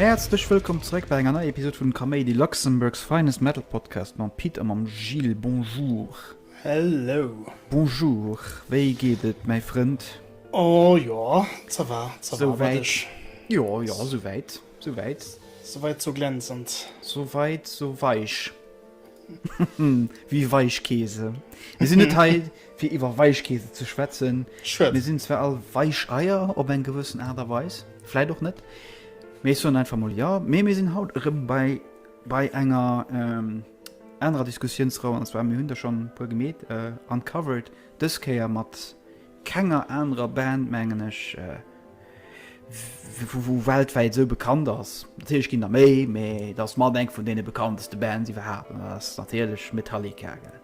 Häerzlech wëllkomm zeréck bei enger neier Episod vun Kaméidi, Luxembourg's finest metal podcast mam Pit a mam Gilles. Bonjour. Hello. Bonjour, wéi geet et mäi Frënd? Oh jo, ça va, ça va, wat ech. Jo, jo, souwäit. Sou wäit, sou weit, sou glänzend. Sou weit, sou weich. Wéi Weichkeese. Mir sinn net hei, fir iwwer Weichkeese ze schwätzen. Schwätz. Mir sinn zwar all Weicheier op eng gewëssen Aart a Weis, vläit och net. Mee ech soen einfach mol jo. Mee mir sinn haut erëm bei, bei enger ähm, anerer Diskussiounsrou. An zwar, mir hunn der schonn e puer gemeet, äh, uncovered. Dës Kéier mat. kenger anerer Band mengen ech wou weltwäit esou bekannt ass. Natierlech ginn der méi, mee et ass mat eng vun deene bekannteste Bands iwwerhaapt an dat ass natierlech Metallica, gell.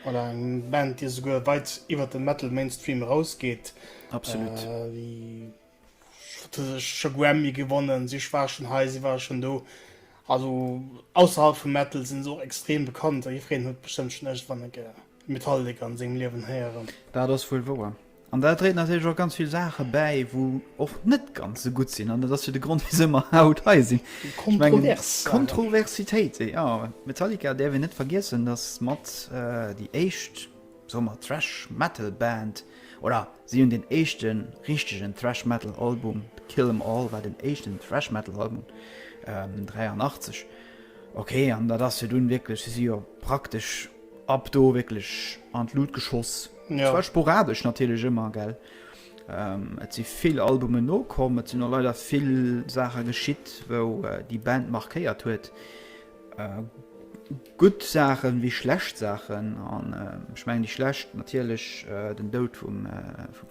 Voilà, eng Band déi esouguer weit iwwert de Metal Mainstream erausgeet. Absolut. Déi Scho Grammy gewonnen, si war schon hei, si war schon do. Also ausserhalb vum Metal sinn se och extrem bekannt. Jiddwereen huet bestëmmt schon iergendwann eng Kéier Metallica an sengem Liewen héieren. Dat ass wuel wouer. An dat dréit natierlech och ganz vill Saache bäi, wou och net ganz esou gutt sinn. An dat ass jo de Grond, wisou mer haut hei sinn. Kontrovers Saachen. Kontroversitéite, jo. Metallica däerf een net vergiessen, dass mat déi éischt. soe mer Thrash Metal Band, oder si hunn den éischte richtegen Thrash Metal Album, Kill 'Em All war den éischten Thrash Metal Album, 83, ok, an dat ass jo dunn wierklech, si si jo praktesch ab do wierklech an d'Lut geschoss, zwar sporadesch natierlech ëmmer, gell. Et si vill Albumen nokomm, et sinn och leider vill Saache geschitt, wou déi Band markéiert huet. Gutt Saachen ewéi schlecht Saachen, an ech mengen déi schlecht natierlech den Doud vum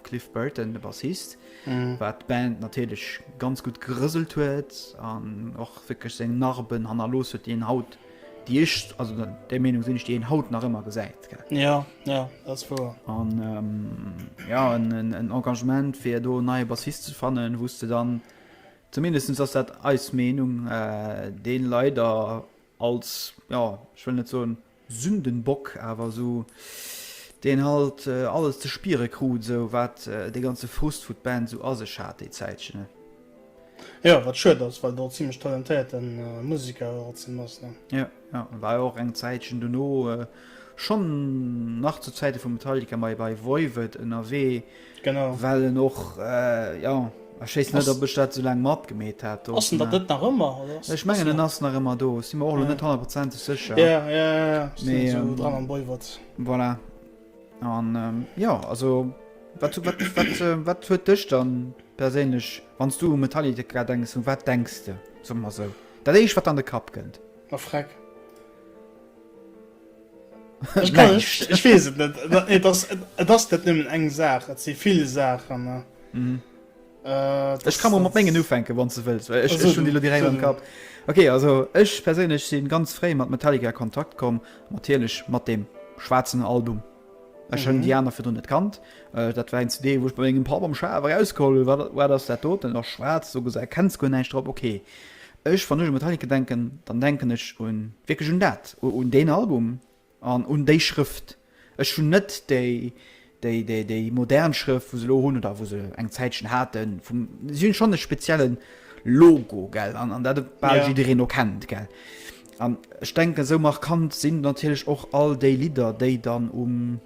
Cliff Burton, de Bassist, wat d'Band natierlech ganz gutt gerëselt huet an och wierklech seng Narben hannerlooss huet, déi een haut, déi ech, also där Meenung sinn ech, déi een haut nach ëmmer gesäit. Jo, jo, dat ass wouer. An jo, en Engagement fir do en neie Bassist ze fannen, wou s de dann, zumindest ass dat eis Meenung, dee leider als, jo, ech wëll net soen Sündenbock, awer esou deen halt alles ze spiere krut, esou wat dee ganze Frust vu d'Band esou a sech hat déi Zäitchen. Jo, wat schued ass, well do e zimmlech talentéierte Museker och erzen ass, ne? Jo, jo, e war jo och eng Zäitchen dono, schonn nach zu Zäite vu Metallica, ma e bei Voivod ënnerwee. Genau. Well en och, jo, ech wéisst net, ob ech dat esou laang matgemeet hat do. Ass en dat net nach ëmmer? Ech mengen, en ass nach ëmmer do. Ech si mer och elo net honnertprozenteg sécher. Jo, jo, jo, sinn esou dran am Boywert. Voilà. An, jo, also, wat, wat, wat, wat huet dech dann perséinlech, wann s du u Metallica denks, u wat denks de, soe mer esou, dat éischt, wat an de Kapp kënnt? A Freck. Ech kann ech, ech wees et net. Et ass et ass net nëmmen eng Saach, et si vill Saachen. Mhm. Äh, ech kann mat mengen ufänken wann ze wëlls ech hun die direkt am Kap. Okay also ech perséinlech sinn ganz fréi mat Metallica Kontakt komm natierlech mat dem schwarzen Album. Ech hun mhm. die aner fir net kannt äh, dat war en CD woch bei engem Pap am Schawer auskoll war dat ass dat doten och schwarz so gesä kenns go neicht drop okay. Ech, wann ech u Metallica denken, dann denken ech un, wierklech un dat, un deen Album an un déi Schrëft. Ech hunn net déi, déi, déi, déi modern Schrëft, wou se elo hunn oder wou se eng Zäitchen haten, vum, si hunn schonn e spezielle Logo, gell, an, an dat e bal jiddereen och kennt, gell. An ech denken, esou markant sinn natierlech och all déi Lidder, déi dann um.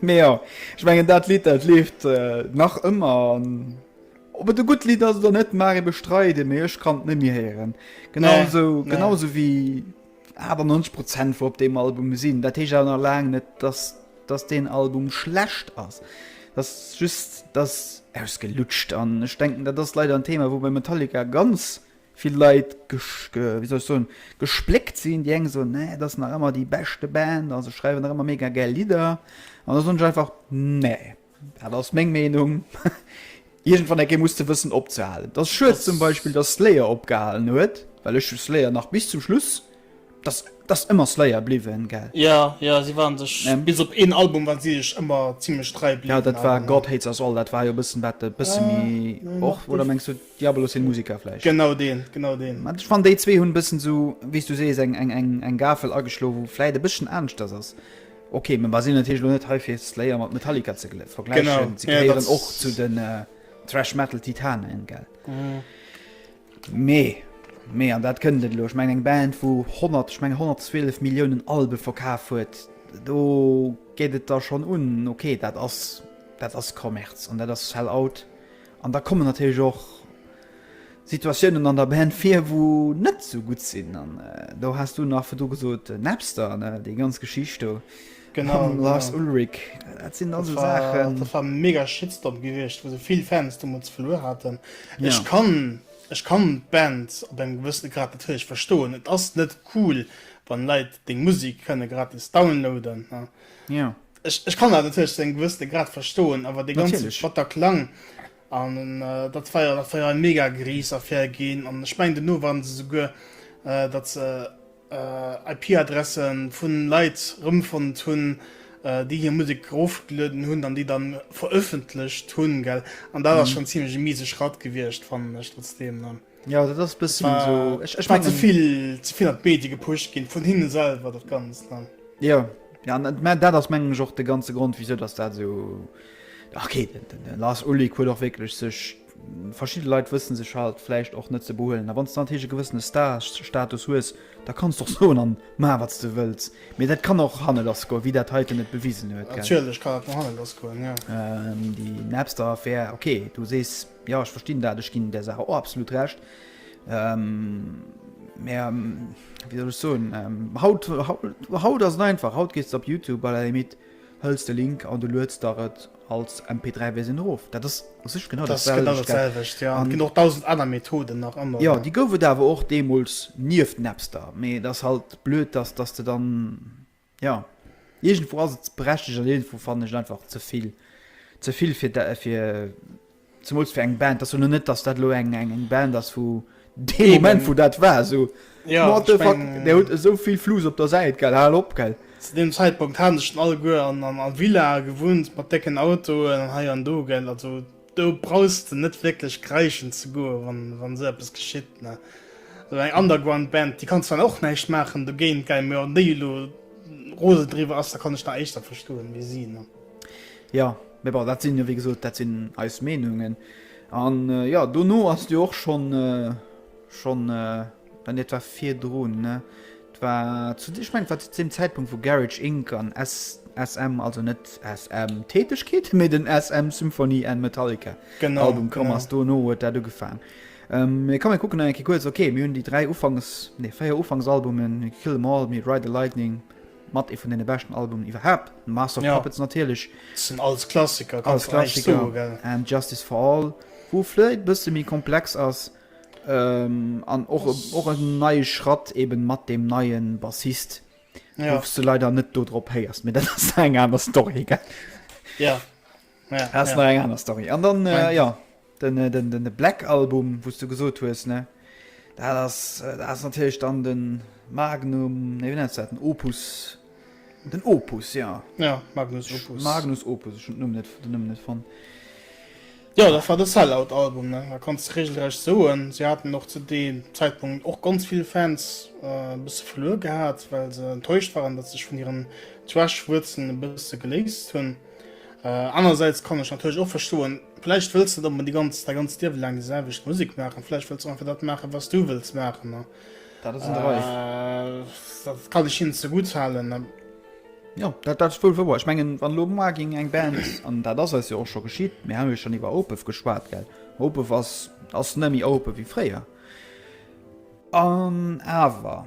Mee jo, ech mengen dat Lidd dat leeft nach ëmmer an ob et e gutt Lidd ass oder net mag ee bestreiden, mee ech kann et net méi héieren. Genausou nee. genausou wéi 98 Prozent wou op deem Album sinn. Dat heescht awer nach laang net, dass, dass deen Album schlecht ass. Dat ass just, dass ausgelutscht an ech denken, dat ass leider en Thema, wou bei Metallica ganz vill Leit gespléckt sinn, déi eng soen nee, et ass nach ëmmer déi beschte Band a se schreiwen nach ëmmer mega gäil Lidder an da soen ech einfach nee, dat ass meng Meenung, iergendwann enkéi muss de wëssen opzehalen. Et ass schued zum Beispill, datt Slayer opgehalen huet, well ech hu Slayer nach bis zum Schluss Dass dass ëmmer Slayer bliwwen gell? Jo jo si waren sech bis op een Album waren si sech ëmmer zimlech trei bliwwen. Jo dat war God Hates Us All dat war jo bëssen dat e bësse méi och oder mengs du Diabolus in Musica vläicht? Genau deen genau deen. Mä ech fannen déi zwee hunn e bëssen esou wéis du sees eng eng eng eng Gafel ageschloe wou vläicht e bësschen aaneschters ass. Ok mä mer sinn natierlech elo net hei fir Slayer mat Metallica ze vergläichen. Se gehéieren och zu den Thrash Metal Titanen gell? Mee, mee, an dat kënnt et elo, ech mengen eng Band wou 100, ech mengen 112 Milliounen Albe verkaf huet, do geet et da schonn un, ok, dat ass, dat ass Kommerz an dat ass Sell-Out. An da kommen natierlech och Situatiounen an der Band vir wou net esou gutt sinn an do has du nach virdru gesot Napster, ne, déi ganz Geschicht do. Genau, mam Lars genau. Ulrich. Dat sinn also Saachen. Dat war mega Shitstorm gewiescht, wou se vill Fans demols verluer haten. Ja. Ech kann ech kann d'Band op engem gewëssene Grad natierlech verstoen. Et ass net cool, wann Leit deng Musek kënne gratis downloaden. Ne? Ja. Ech, ech kann dat natierlech zu engem gewëssene Grad verstoen, awer de ganze Batterklang An datt war jo, datt war jo eng mega gries Affär ginn. An ech mengen dono waren se souguer, datt se IP-Adressen vu Leit rëmfonnt hunn, déi hir Musek erofgelueden hunn an déi da verëffentlecht hunn, gell. An dat ass schonn zimlech e miese Schratt gewiescht, fannen ech trotzdeem. Ja dat ass bëssen war, so ech, ech war zevill zevill an d'Medie gepuscht ginn vun hinne selwer dat ganz dann. Ja ja dat ass mengen och de ganze Grund wieso dass dat so okay, den, den, den lass Uli huet och wéklech sech verschi Leiit wëssen sech halt flecht och net ze behuelen. A wann an hege gewëssene Starstatus hues, da kannst doch so an ma wat ze wëz. Mee dat kann och hanne lass go wie dat heiten net bewisen huet. Natürlich kann dat hanne lass goen ja. Ähm, die Napster Affär okay du sees. Jo, ech verstinn dat. Ech ginn där Saach och absolut Recht. Mä wéi soll ech soen, haut, haut ass et einfach. Haut gees de op Youtube, à la limite hëls de Link an du lueds der et als MP3-Versioun erof. Dat ass u sech genau dat selwecht. Dat ass genau dat selwecht, jo. Et ginn och dausend aner Methoden nach ëmmer. Jo, déi gouf et awer och deemools nieft Napster. Mee et ass halt blöd, dass, dass de dann. Jo, iergendwou ass et berechtegt an iergendwou fannen ech et einfach ze vill. Ze vill fir dat, fir zemools fir eng Band. Dat ass jo lo net, dass dat lo eng, eng, eng Band ass, wou dee Eben. Moment, wou dat war, esou Ja, What ech the fuck, meng, där huet esou vill Flus op der Säit, gell, hal op, gell. zu deem Zäitpunkt hate se schonn alleguer an, an, a Villae gewunnt mat décken Autoen an hei an do, gell, also. Do brauchs de net wierklech kreischen ze goen, wa sou eppes geschitt. Sou eng Underground-Band, déi kann zwar och näischt maachen dogéint, mä wann déi elo rose driwwer ass, da kann ech nach éischter verstoen, wéi si. Jo, mä bon, dat sinn jo, wéi gesot, dat sinn eis Meenungen. An jo, dono ass jo och schonn, schonn. An et war virdrun, ne? Et war zu, ech mengen, et war zu deem Zäitpunkt, wou Garage Inc. An SM, also net SM Tätegkeeten, mee den SM Symphony and Metallica Album komm ass. Dono huet dat ugefaang. Mee komm, mir kucken nach eng Kéier kuerz. Ok, mir hunn déi dräi Ufanks, nee, véier Ufanksalbumen, Kill 'Em All, Ride the Lightning, mat ee vun deene beschten Albumen iwwerhaapt, Master of Puppets natierlech. Dat sinn alles Klassiker, kann een net anescht soen, gell? An Justice for All, wou vläit e bësse méi komplex ass, An och e neie Schratt eben mat deem neie Bassist, woufs de leider net do drop héiers, mee dat ass eng aner Story. Jo, dat ass nach eng aner Story. An dann, jo, de Black Album, wou s de gesot hues, ne, dat ass natierlech dann de Magnum, nee, wéi nenns de dat, den Opus. Den Opus, jo. Jo, Magnus Opus. Magnus Opus, ech hunn den Numm net fonnt. Jo, dat war de Sellout-Album, ne? Da kanns de reegelrecht soen, si haten och zu deem Zäitpunkt och ganz vill Fans e bësse verluer gehat, well se enttäuscht waren, datt se sech vun hiren Thrash-Wuerzelen e bësse geléist hunn. Anerersäits kann ech natierlech och verstoen, vläicht wëlls de net onbedéngt däi ganzt Liewe laang déi selwecht Musek maachen, vläicht wëlls de och einfach dat maachen, wat s du wëlls maachen. Dat ass en 3. Dat kann ech hinnen zegutt halen. Jo, dat ass wuel wouer. Ech mengen, wann elo muer géing eng Band, an dat ass eis jo och scho geschitt, mir hate jo schonn iwwer Opeth geschwat, gell, Opeth ass, ass net méi Opeth wéi fréier. An awer,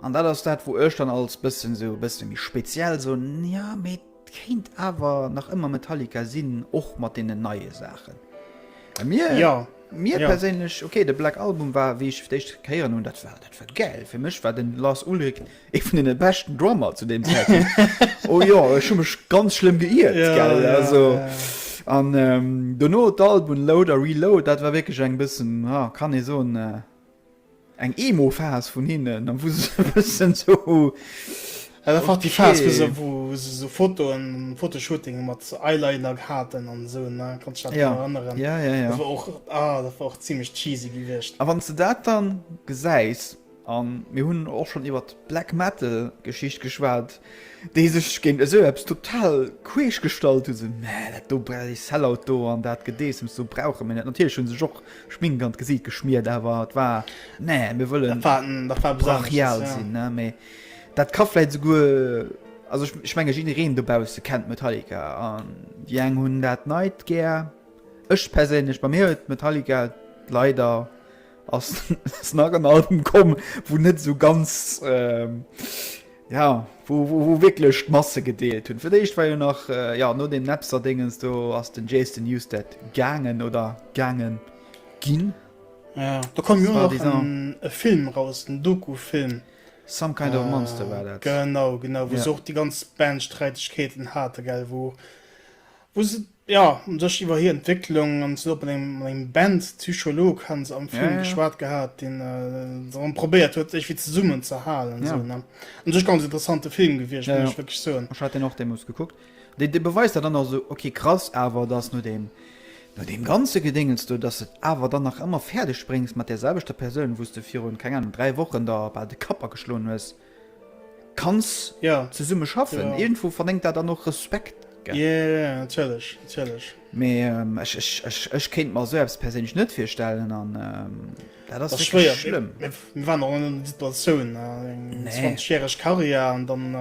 an dat ass dat, wou ech dann als bëssen esou e bësse méi speziell soen, jo mee, Et kéint awer nach ëmmer Metallica sinn, och mat deenen neie Saachen. A mir, Ja, mir ja. perséinlech, okay, de Black Album war, wéi ech fir d'éischt héieren hunn, dat war, dat war gäil. Fir mech war de Lars Ulrich ee vun deene beschten Drummer zu deem Zäitpunkt. oh jo, ech hu mech ganz schlëmm geiert, Ja, gell, ja, also. ja. An ähm, dono d'Albumen Load a Reload, dat war wierklech eng bëssen, ha, kann ee soen, äh, Eng Emo-Phase vun hinnen, an wou se sou e bëssen sou, okay. Dat war déi Phase, wou se, wou se sou Fotoen, Fotoshootinge mat Eyeliner haten an esou, ne? Kanns du dech dat nach erënneren? Ja, ja, ja, ja. Dat war och, ah, dat war och zimlech cheesy gewiescht. A wann s de dat dann gesäis, a mir hunn och schonn iwwert d'Black-Metal-Geschicht geschwat, déi sech géint esou eppes total queesch gestallt hunn, sou, mä dat do, bräh, dee Sellout do an dat Gedeessems do brauche mir net. Natierlech hu sech och Schmink an d'Gesiit geschmiert, awer et war, Nee, mir wëllen brachial sinn. Mee dat ka vläit esouguer, also ech menge jiddereen dobausse kennt Metallica an déi eng hunn dat Neit gär, ech perséinlech, bei mir huet Metallica leider, ass nach en Album komm, wou net esou ganz. Ja, wou wou wierklech d'Masse gedeelt hunn. Fir d'éischt war jo nach ja no dem Napster-Dingens do ass den Jason Newsted gaangen oder gaange ginn. Ja, do koum jo nach e Film raus, en Doku-Film. Some Kind of Monster war dat. Genau, genau, wou se och déi ganz Band-Sträitegkeeten hate, wou se. Jo, un sech iwwer hir Entwécklung an zesumme mat engem, mat engem Bandpsycholog hu se am Film geschwat gehat, deen se erëm probéiert huet iergendwéi zesummen ze halen. Esou ne? Un sech ganz interessante Film gewiescht, muss ech wierklech soen. Ech hat deen och deemools gekuckt. Dee, dee beweist dat dann also, ok krass, awer dass no deem, no deem ganze Gedéngens do, dass de awer dann nach ëmmer fäerdeg bréngs mat där selwechter Persoun, wou s de virun, keng Ahnung, dräi Wochen der bal de Kapp ageschloen hues, kanns zesumme schaffen irgendwo vernenkt dat dann och Respekt ech kéint mer se abs perséinlech net virstellen an dat ass schlimm schiereg Karriär an dann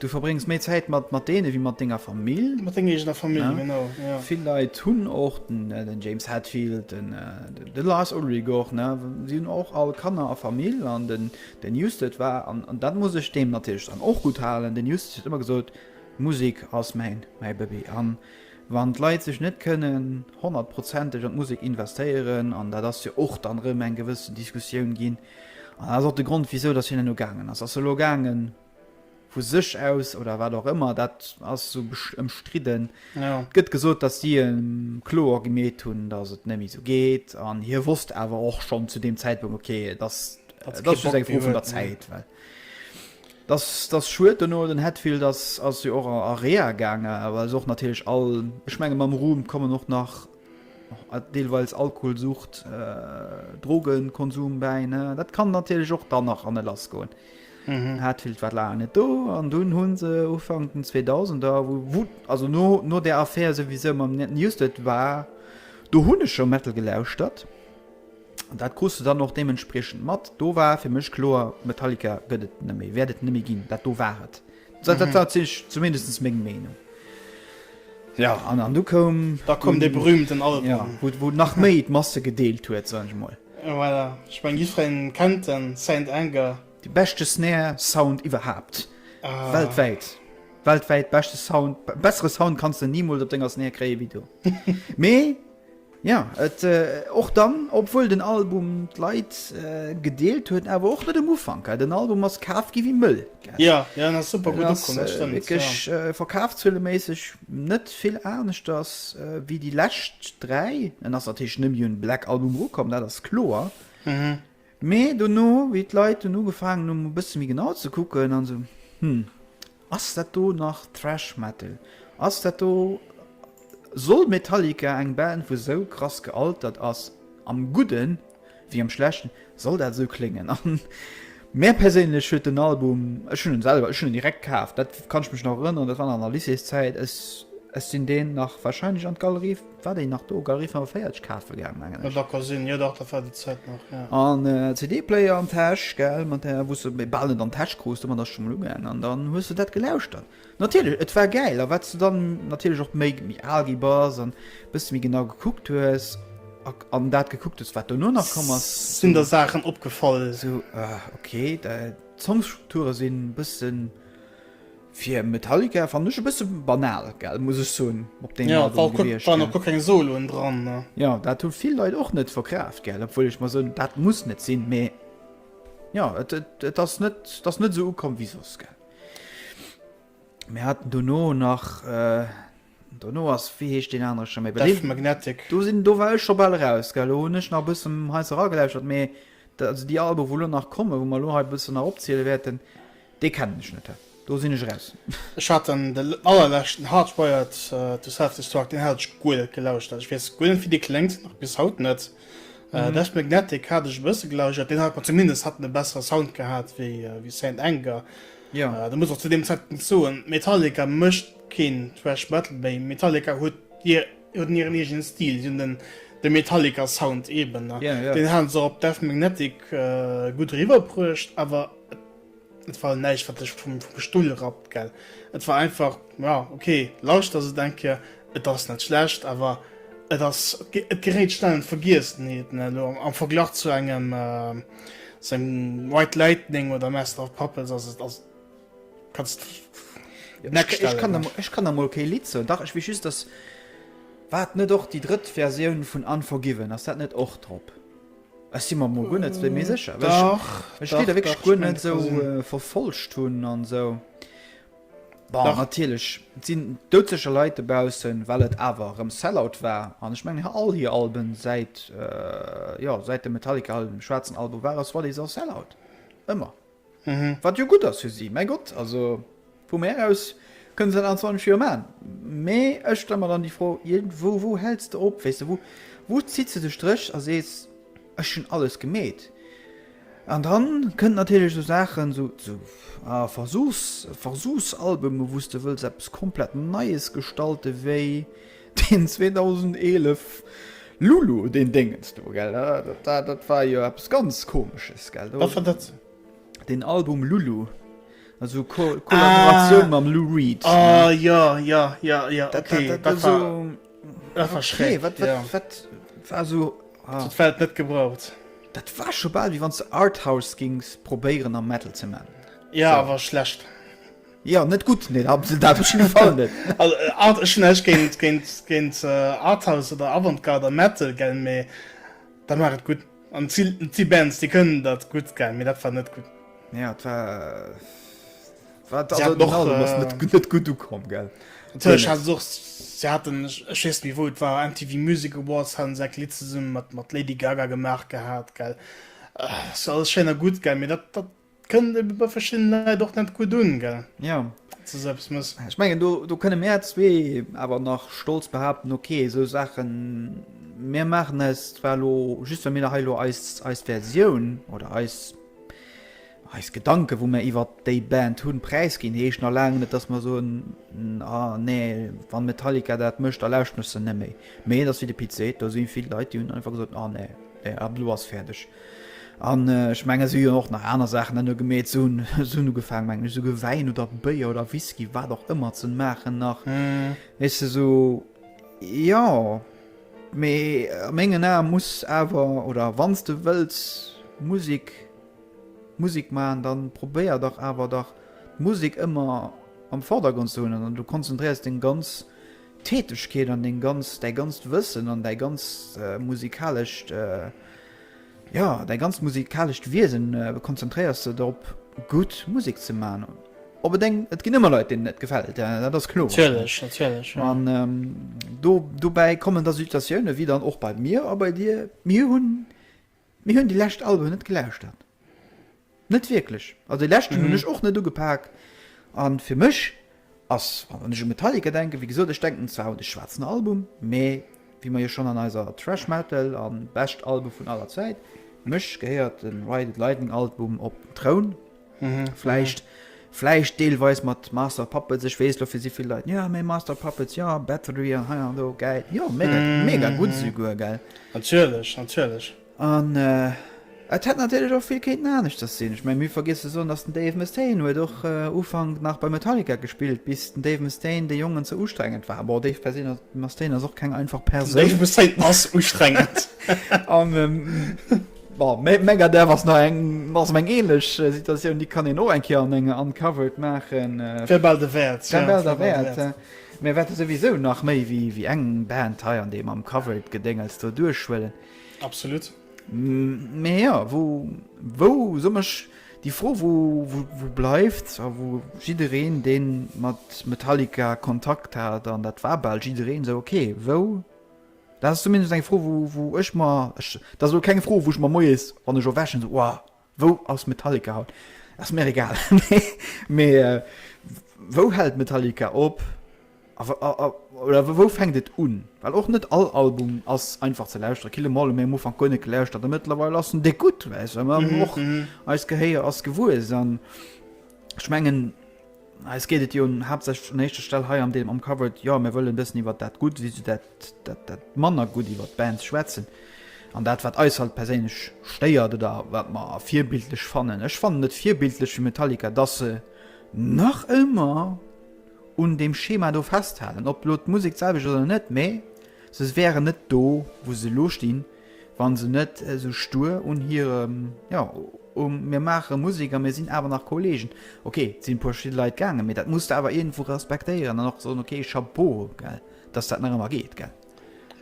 du verbréngs méi Zäit mat mat deene wéi mat denger Famill mat denger eegener Famill genau vill Leit hunn och den James Hetfield den de Lars Ulrich och ne si hunn och all Kanner a Famill an den Den Newsted war, an dat muss ech deem natierlech dann och gutt halen, den Newsted huet ëmmer gesot, Musek ass mäin Baby. A wann d'Leit sech net kënnen honnertprozenteg an d'Musek investéieren, an dat ass jo och dann erëm eng gewëssen Diskussioun ginn, an dat ass och de Grond, wisou datt hien elo gaangen ass, ass elo gaangen, vu sech aus oder wat och ëmmer, dat ass esou ëmstridden. Et gëtt gesot, datt si him kloer gemeet hunn, datt et net méi esou geet an hie wosst awer och schonn zu deem Zäitpunkt, ok, et ass just eng Fro vun der Zäit. Datt ass schued. Duerno den Hetfield ass jo och a Reha gaangen, awer ass och natierlech all, ech menge mam Ruhm kommen och nach. deelweis Alkoholsucht, Drogenkonsum bäi, ne? Dat kann natierlech och dann nach an e lass goen. Mhm. Hat vill wat laang net do an dunn hunn se Ufank den 2000er wo wut also no no der Affär souwisou mam net Newsted war do hunn ech scho Metal gelauschtert. An dat krus du dann och deementspriechend mat. Do war fir mech kloer, Metallica gëtt et net méi, wäert et net méi ginn, dat do war et. Dat dat dat si ech zumindest meng Meenung. Jo, an an du koum. Da koum dee berühmten Album. Jo, wou wou nach méi d'Masse gedeelt huet, sot ech mol. Jo, voilà. Ech meng jiddfereen kennt den Saint Anger. De beschte Snare Sound iwwerhaapt. Weltwäit. Weltwäit beschte Sound. Bessere Sound kanns de nimools op denger Snare kréie wéi do. Mee. Ja, et och dann, obwuel den Album d'Leit gedeelt huet, awer och net um Ufank, ha, den Album ass kaf gi wéi Mëll, gell? Jo, jo, en ass super gutt ukomm, dat stëmmt, jo. Wierklech verkafzueleméisseg net vill aneschters wéi déi lescht dräi. En ass natierlech nëmme un Black Album erukomm, dat ass kloer. Mee dono, wéi d'Leit dunn ugefaangen hunn, e bësse méi genau ze kucken an esou, Hm, ass dat do nach Thrash Metal? Ass dat do, soll Metallica, eng Band wou esou krass gealtert ass, am Gudden ewéi am Schlechten, soll dat esou kléngen? A mär perséinlech huet den Album, ech hunn en selwer, ech hunn en direkt kaf, dat kann ech mech nach erënneren, dat war nach an der Lycéeszäit, ech sinn deen nach warscheinlech an d'Galerie. War déi nach do? Galerie 45 kafe gaang, mengen ech. Mat der Cousine, jo dach, dat war déi Zäit nach, jo. An CD-Player an d'Täsch, gell, mat där, wou s de bal net an d'Täsch krus, domat ass schonn emol ugaangen. An dann hues de dat gelauschtert. Natierlech, et war gäil. A wat s de dann natierlech och méi al gi bass an e bësse méi genau gekuckt hues a an dat gekuckt hues, wat dono nach komm ass, esou. Sinn der Saachen opgefall. Esou, ah, okay, d'Songstrukture sinn e bëssen. Fir Metallica fannen ech e bësse banal, gell, muss ech soen, op deem Album gewiescht. Ja, et waren och guer keng Soloen dran, ne? Jo, dat hu vill Leit och net verkraaft, gell, obwuel ech mer soen, dat muss net sinn, mee jo, et ass net, et ass net esou ukomm wéi soss, gell. Mir haten dono nach. Dono ass, wéi heescht deen anere scho méi bekannt? Death Magnetic. Do sinn, do war ech scho bal eraus, gell, elo hunn ech nach e bësse heiansdo eragelauschert, mee also déi Alben, wou elo nach kommen, wou mer elo hei e bësse nach opziele wäerten, déi kennen ech net. Do sinn ech eraus. Ech hat dann de allerleschten Hardwired to Self-Destruct, deen hat ech guer net gelauschtert. Ich weess guer net, wéi dee kléngt, nach bis haut net. Death Magnetic hat ech e bësse gelauschtert, deen hat mer zumindest hat en e bessere Sound gehat wéi Saint Anger. Jo. Ech muss och zu deem Zäitpunkt soen, Metallica mécht Keen Thrash Metal méi. Metallica huet huet hiren eegenen Stil. Si hunn den de Metallica Sound eben. Deen hate se och op Death Magnetic gutt eriwwer bruecht. Awer et war elo näischt wat dech vum vum Stull rappt gell. Et war einfach jo ok lauschter se et eng Kéier. Et ass net schlecht awer et ass et geréit schnell an d'Vergiessenheet ne elo am Verglach zu engem zu engem White Lightning oder Master of Puppets ass et ass et. Kanns next stellen. Ech kann emol kee Lidd soen. Dach ech wees just dass waat net och déi drëtt Versioun vun Unforgiven ass dat net och drop? Ech si mer emol guer net méi sécher well ech déi da wierklech guer net esou verfolgt hunn an esou. Bon natierlech et sinn doudsécher Leit dobaussen well et awer erëm Sellout war an ech mengen hir all hir Alben säit jo säit dem Metallica Schwaarzen Album war ass What Is Our Sellout ëmmer. Wat jo gutt ass fir si, mäi Gott, also vu mär aus kënne se dat an 20 Joer maachen. Mee ech stelle mer dann déi Fro, iergendwou, wou häls de op? Weess de, wou, wou zitt se de Stréch a sees, ech hunn alles gemeet? An da kënnen natierlech esou Saachen, esou, esou, a Versuchs, Versuchsalbume, wou s de wëlls eppes komplett Neies gestalte wéi Deen 2011 Lulu, deen Déngens do, gell? Dat war jo eppes ganz Komesches, gell? Wat war dat? Deen Album Lulu. Also Kollaboratioun ah, mam Lou Reed. Ah, ne? ja, ja, ja, ja, okay. Dat, dat, dat, war, so, dat war schräg. Nee, wat, wat, ja. wat war so. Ah. Dat war net gebraucht. Dat war scho bal, wie wann ze Arthouse gings probéieren am Metal ze man. Ja, so. war schlecht. Jo net gutt nee da se dat op jidde Fall net. Also art ech hu näischt géint géint géint arthouse oder avantgarde a metal gell mee da maach et gutt an si si Bands déi kënnen dat gutt gell mee dat war net gutt. Jo et war war si haten och also ass net net gutt ukomm gell natierlech haten se och si haten ech ech weess net méi wou et war MTV Music Awards haten se eng Lidd zesumme mat mat Lady Gaga gemaach gehat gell ass alles schéin a gutt gell mee dat dat Kënnt ebe bei verschiddenen Leit och net gutt un, gell? Jo. Datt se soeppes muss. Ech mengen, do, do kënne mär zwee awer nach stolz behaupten, okay, esou Saachen, mir maachen eis zwar elo, just well mir nach hei elo eis, eis Versioun oder eis, eis Gedanken, wou mär iwwer déi Band hunn, präisginn, heescht nach laang net, datt mer soen, ah nee, wann Metallica dat mécht, da lauschteren ech se net méi. Mee et ass wéi de Pit seet, do si vill Leit, déi hunn einfach gesot, ah nee, ab elo ass fäerdeg. An ech mengen esou jo och nach aner Saachen an hu gemeet sou sou nu gefaang mengen ech souguer Wäin oder Béier oder Whisky wat och ëmmer ze maachen nach weess de sou jo mee a mengen Ae muss awer oder wanns de wëlls Musek Musek man da probéier dach awer dach d'Musek ëmmer am Vordergrond ze hunn an du konzentréiers deng ganz Tätegkeet an deng ganz, däi ganzt Wëssen an däi ganzt musikalescht, jo, däi ganzt musikalescht Wiesen konzentréiers de drop, gutt Musek ze maachen. Op et eng, et ginn ëmmer Leit, deenen et gefält, dat ass kloer. Natierlech, natierlech, jo. An do, dobäi kommen da Situatiounen, wéi dann och bei mir a bei dir, mir hunn. Mir hunn déi lescht Alben net gelauschtert, net wierklech. Also dee leschten hunn ech och net ugepak. A fir mech ass, wann ech u Metallica denken, wéi gesot, ech denken zwar u de schwaarzen Album, mä wéi mer jo schonn an eiser Thrash Metal a bescht Alben vun aller Zäit, fir mech gehéiert de Ride It Lightning Album op den Troun. Vläicht, vläicht deelweis mat Master of Puppets, ech weess, dofir si vill Leit, jo mee Master of Puppets, jo Battery an hei an do, gäil, jo mega, mega gutt esouguer, gell. Natierlech, natierlech. An et hätt natierlech och vill kéinten aneschters sinn. Ech meng, mir hu vergiess ze soen, datt den Dave Mustaine huet och Ufank nach bei Metallica gespillt, bis den Dave Mustaine de Jongen ze ustrengend war. Bon, Dave Persino, Mustaine ass och keng einfach Persoun. Den Dave Mustaine ass ustrengend. An. Bon, Mad Megadeth ass nach eng ass eng ähnlech Situatioun, déi kann een och eng Kéier an enger Uncovered maachen. Wär bal derwäert. Wär bal derwäert, ja. Mir wäerte souwisou nach méi wéi eng Band hei an deem Uncovered-Gedéngels do duerchhuelen. Absolut. Mä jo, wou, wou, soen mech, déi Fro, wou, wou, wou bleift a wou jiddereen, dee mat Metallica Kontakt hat, an dat war bal jiddereen, esou, okay, wou, Dat ass zumindest eng Fro, wou ech mer, dat ass elo keng Fro, wou ech mer moies, wann ech erwächen, sou, Wow, wou ass Metallica haut? Ass mir egal. Mee wou hält Metallica op? Oder wou fänkt et un? Well och net all Album ass einfach ze lauschteren. Kill 'Em All hu mir am Ufank guer net gelauschtert, a mëttlerweil ass en déck gutt, well mer och eist Gehéier ass gewuess. An ech mengen. Eis geet et jo haaptsächlech un éischter Stell hei an deem Uncovered, jo, mir wëllen e bëssen iwwert dat Gutt wéi esou dat manner Gutt iwwert d'Bands schwätzen an dat wat eis halt perséinlech stéiert oder wat mer virbildlech fannen. Ech fannen et virbildlech fir Metallica, dass se nach ëmmer un deem Schema do festhalen, ob elo d'Musek d'selwecht ass oder net, mee se wären net do wou se elo stinn, Wann se net esou stur un hirem, jo, um mir maache Musek a mir sinn awer nach Kollegen, ok, sinn e puer verschidde Leit gaangen, mee dat muss de awer iergendwou respektéieren an och soen, ok, Chapeau, gell, dass dat nach ëmmer geet, gell.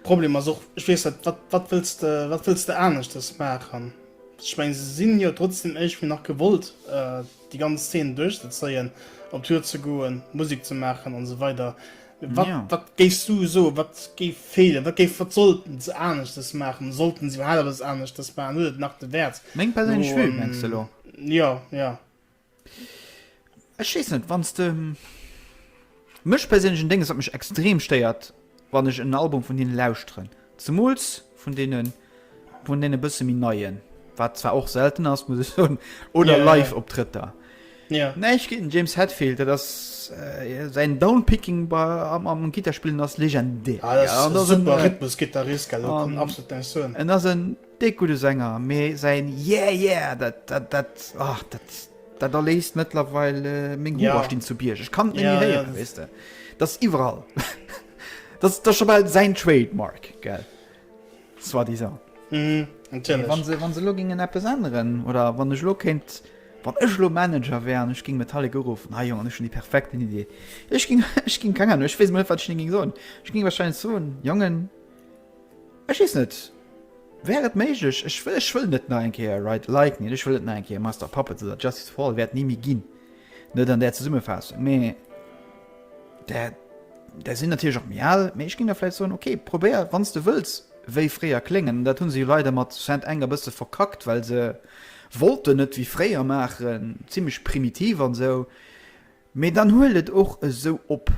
Problem ass och, ech weess net, wat, wat wëlls de, wat wëlls de aneschters maachen? Ech meng, se sinn jo trotzdem iergendwéi nach gewollt, déi ganz Szene duerchzezéien, op Tour ze goen, Musek ze maachen an esou weider. Wat, ja. wat géifs du so wat géif feelen wat géif wat sollten ze anecht das machen sollten sie überhaupt was anecht das waren huet nach de Wert meng persönlich so, ähm, mengst du lo ja ja ech wees net wanns de ähm, mech persönlichen Dinge wat mech extrem stéiert wann ech en Album vun hinne lauschteren zemols vun denen Vun deene bësse méi neien, wat zwar och selten ass, muss ech soen, oder yeah. live op Trëtter. Ja. Yeah. Neich géint James Hetfield, dat ass äh, säin Downpicking bei, am, am Gitterspillen ass legendär. Ah, das ja, das super äh, Rhythmus Gitarrist, gell, um, ähm, absolut dein Sohn. En ass en dick gute Sänger, mir säin Yeah yeah, dat dat dat ach dat dat erléist mittlerweile äh, meng ja. Hoerstinn zu Bierg. Ich kann ja, ja, reden, das, weißt du. das iwwerall. das das schon mal sein Trademark, gell. Soit disant. Mhm, natierlech. Wann se, wann se elo gingen eppes änneren oder wann ech elo kéint, wann ech elo Manager wär an ech ging Metallica uruffen, ah Jongen, ech hunn déi perfekten Idee. Ech ging, ech ging, keng Ahnung, ech weess mol net, wat ech hinne ging soen. Ech ging wahrscheinlech soen, Jongen, ech weess net, wär et méiglech, ech wëll, ech wëll net nach eng Kéier Ride the Lightning, ech wëll net nach eng Kéier Master of Puppets oder Justice for All, wäert ni méi ginn, net an där Zesummefaassung, mee. Där, där sinn natierlech och méi al, mee ech géing da vläicht soen, ok, probéier, wann s de wëlls, wéi fréier kléngen. An dat hu se jo leider mat Saint Anger e bësse verkackt, well se wollten net wéi fréier maachen, zimmlech primitiv an esou. Mee dann huel et och esou op.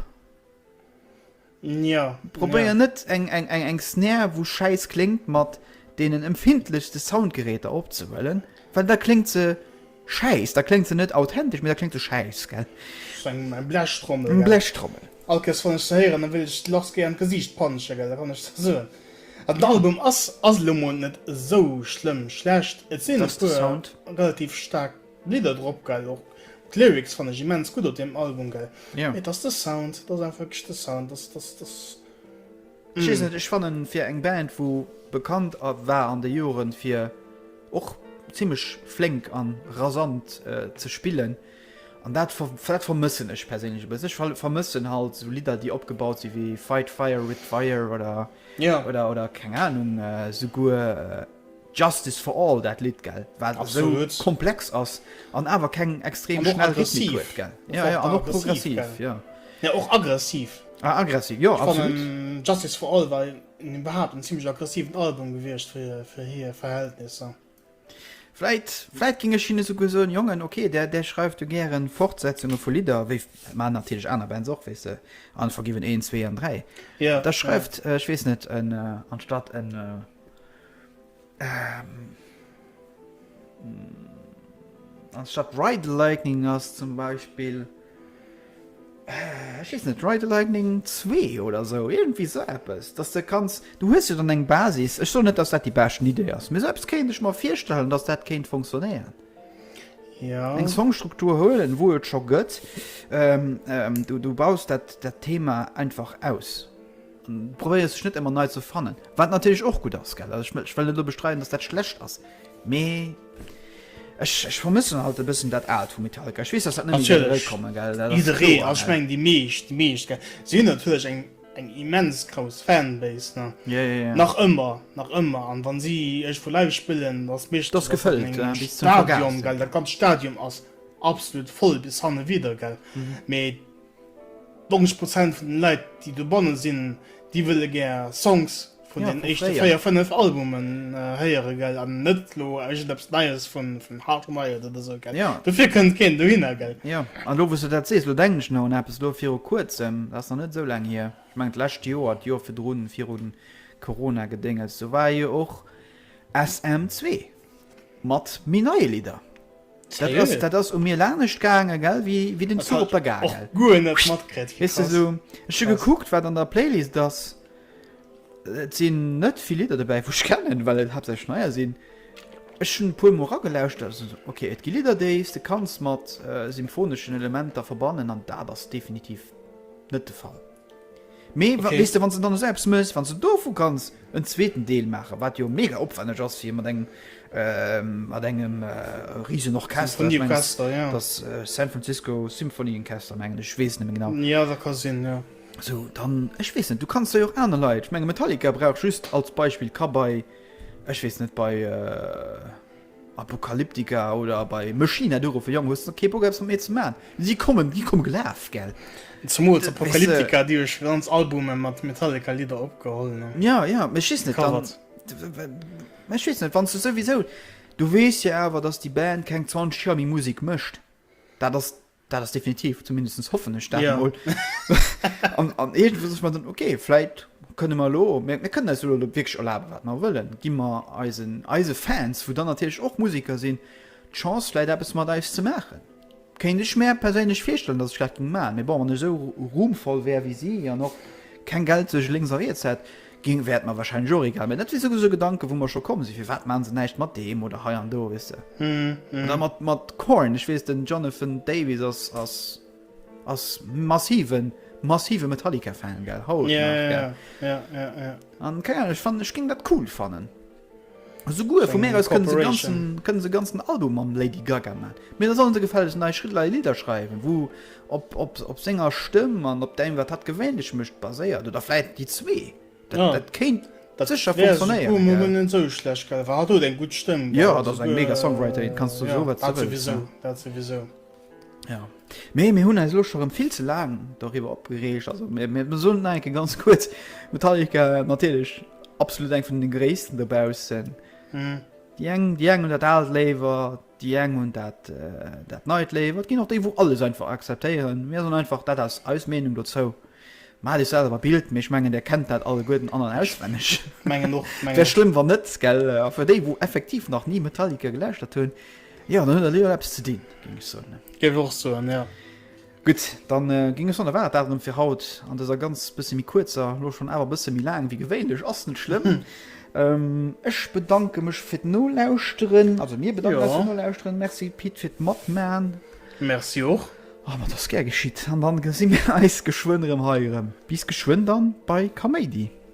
Probéier net eng Snare, wou schäiss kléngt, mat deenen empfindlechste Soundgeräter opzehuelen, well da kléngt se. Schäiss, da kléngt se net authentesch, mee da kléngt se schäiss, gell? Ass eng eng Blechtrommel, gell? Eng Blechtrommel. All Kéiers wann ech se héieren, da wëll ech de Lars géi an d'Gesiicht pansche, gell? Dat kann ech der soen. An den Album ass ass elo mol net esou schlëmm schlecht. Et sinn e puer relativ staark Lidder drop, gell? Och d'Lyrics fannen ech immens gutt op deem Album, gell? Mee et ass de Sound, et ass einfach wierklech de Sound, dass dass dass. Ech weess net, ech fannen fir eng Band wou bekannt war an de Joeren fir och zimlech flénk an rasant ze spillen an dat vermëssen ech perséinlech e bëssen. Ech vermëssen halt esou Lidder déi opgebaut si wéi Fight Fire With Fire oder oder oder keng Ahnung souguer. Justice for All dat Lidd gell, wat esou komplex ass an awer keng extrem schnell Rhythmik huet gell, jo jo, an och progressiv jo. Jo och aggressiv. Ah aggressiv jo absolut. Justice for All war iwwerhaapt en zimmlech aggressiven Album gewiescht fir hir Verhältnisser. Vläit, vläit géing ech hinne souguer soen, Jongen ok där där schreift jo gären Fortsetzunge vu Lidder, wéi maachen natierlech aner Bands och weess de, Unforgiven 1, 2 an 3, da schreift ech weess net en anstatt en. Ähm. Anstatt Ride Lightning ass zum Beispiel. Äh, ich weiß nicht, Ride Lightning 2 oder so, irgendwie so etwas. Dass du kannst, du hast ja dann eine Basis. Ich so nicht, dass das die beste Idee ist. Mir selbst könnte ich mir vorstellen, dass das könnte funktionieren. Ja. Eine Songstruktur holen, wo es schon gibt. Ähm, ähm, du, du baust das Thema einfach aus. Probéiere sech net emmer nei ze fannen, wat natierlech och gutt ass, gell? Also ech wëll net elo bestreiden, dass dat schlecht ass, mee ech ech vermëssen halt e bëssen dat Aalt vu Metallica. Ech weess, dass dat net méi wäert Natierlech, eréikommen, gell? Dat ass jidderee, kloer, also ech gell? mengen déi meescht, déi meescht, gell? Si hunn natierlech eng eng immens grouss Fanbase, ne? Ja, ja, ja. Nach ëmmer, nach ëmmer, an wann si iergendwou live spillen, da ass et meeschtens, Dass dass dat an gefëllt, engem bis zum Stadion, Vergaas, gell? ja. Dat ganzt Stadion ass absolut voll bis hanne widder, gell? Mee. 90 Prozent vun den Leit déi dobannen sinn déi wëlle gär Songs vun den éischte 4, 5 Albumen héieren gell an net elo iergendeppes Neies vun Hard Wired oder sou gell. Dofir kënnt keen dohinner gell. Jo an elo wous de dat sees, elo denken ech nach un eppes elo viru kuerzem, dat ass nach net esou laang hier, ech mengen d'lescht Joer, d'Joer virdrun, viru Corona Gedénges, do war jo och SM zwee. Mat méi neie Lidder. Sérieux? Dat ass u mir lanescht gaange gell wéi wéi den Zuch op der Gare. Och guer net matkritt. Weess de sou ech hu gekuckt wat an der Playlist ass, et sinn net vill Lidder dobäi wou ech kennen, well et haaptsächlech neier sinn. Ech hunn e puer mol ragelauschtert a sinn esou ok et gi Lidder déis de kanns mat symphoneschen Elementer verbannen an dat ass definitiv net de Fall. Mee weess de, wann s de dann esou eppes méchs, wann s de dovu kanns en zweeten Deel maachen, wat jo mega opwänneg ass fir mat engem mat engem riesen Orchester, ech mengen et ass San Francisco Symphony Enchester mengen ech, ech weess et net méi genau, jo dat ka sinn, jo esou dann ech weess net, du kanns der jo och aner Leit, ech menge Metallica brauch just als Beispill, ka bei ech weess net bei. Apokalyptika oder bei Machina du ruffen, Jong, hues de kee Bock eppes mat mir ze man? Si kommen, si kommen gelaf, gell? Zemools Apokalyptika, déi jo scho ganz Albume mat Metallica Lidder opgeholl an. Ja, ja, mee ech weess net, dann, mee ech weess net, wann s de souwisou, du weess jo awer, dass déi Band keng 20 Joer méi Musek mécht, dat ass Dat ass definitiv, zumindest hoffen ech dat emol. An iergendwou sech mer dann, ok, vläit kënne mer elo, mir kënnen eis elo wierklech erlabe wat mer wëllen, gi mer eisen, eise Fans, wou dann natierlech och Museker sinn, d'Chance vläit eppes mat eis ze maachen. Kéint ech mär perséinlech virstellen, datt ech dat géing maachen, mee bon, wann ech esou ruhmvoll wär wéi si an och keng Geld sech lénks a riets hätt, Gin wär et mer wahrscheinlech och egal, mee dat wier souwisou Gedanken wou mer scho komm sin, firwat machen se näischt mat deem oder hei an do, weess de. An da mat mat Korn, ech weess den Jonathan Davis ass ass ass massiven massive Metallica Fan gell, haut nach gell, an keng Ahnung ech fannen ech ging dat cool fannen. Souguer vu mir aus kënne se ganzen kënne se ganzen Album mam Lady Gaga man. Mee da sollen se gefällegst nei Schridlei Lidder schreiwen wou op op op senger Stëmm an op däim wat hat gewéinlech mécht baséiert oder vläit déi zwee. Dat Ja, dat kéint dat sécher wär funktionéieren souguer mol gell. net esou schlecht gell, well hatt huet eng gutt Stëmm Jo gell, dat ass eng souguer mega Songwriterin, kanns du soe ja wat se dat wëlls souwisou, ne. dat souwisou. Ja. Mee mir hunn eis elo scho rëm vill ze laang doriwwer opgereegt. Also mir, mir soen nach enke ganz kuerz, Metallica natierlech absolut eng vun de gréissten dobaussen. Mhm. Déi eng déi eng hunn dat Aalt léiwer, déi eng hunn dat äh, dat Neit léiwer. Et ginn och déi, wou alles einfach akzeptéieren. Mir soen einfach, dat ass eis Meenung dozou. Maat iech selwer Bild, mee ech mengen där kennt dat alleguerten an an auswenneg. Mengen och, mengen Wär och. schlëmm wann net, gell? A fir déi, wou effektiv nach ni Metallica gelauschtert hunn, Jo, dann huet der Leo eppes ze dinn, géing ech soen. Géif ech och soen, jo. Gutt, dann géing ech soen, da war dat dat erëm fir haut an dëser ganz bësse méi kuerzer, elo schonn awer bësse méi laang wéi gewéinlech, ass net schlëmm. Ech bedanke mech fir d'Nolauschteren, also mir bedanken eis fir d'Nolauschteren. Merci Pit fir d'Matman. Merci och. Oh, ma et ass gär geschitt. An da gesi mir eis geschwënn erëm hei erëm. Bis geschwënn dann bei Kaméidi.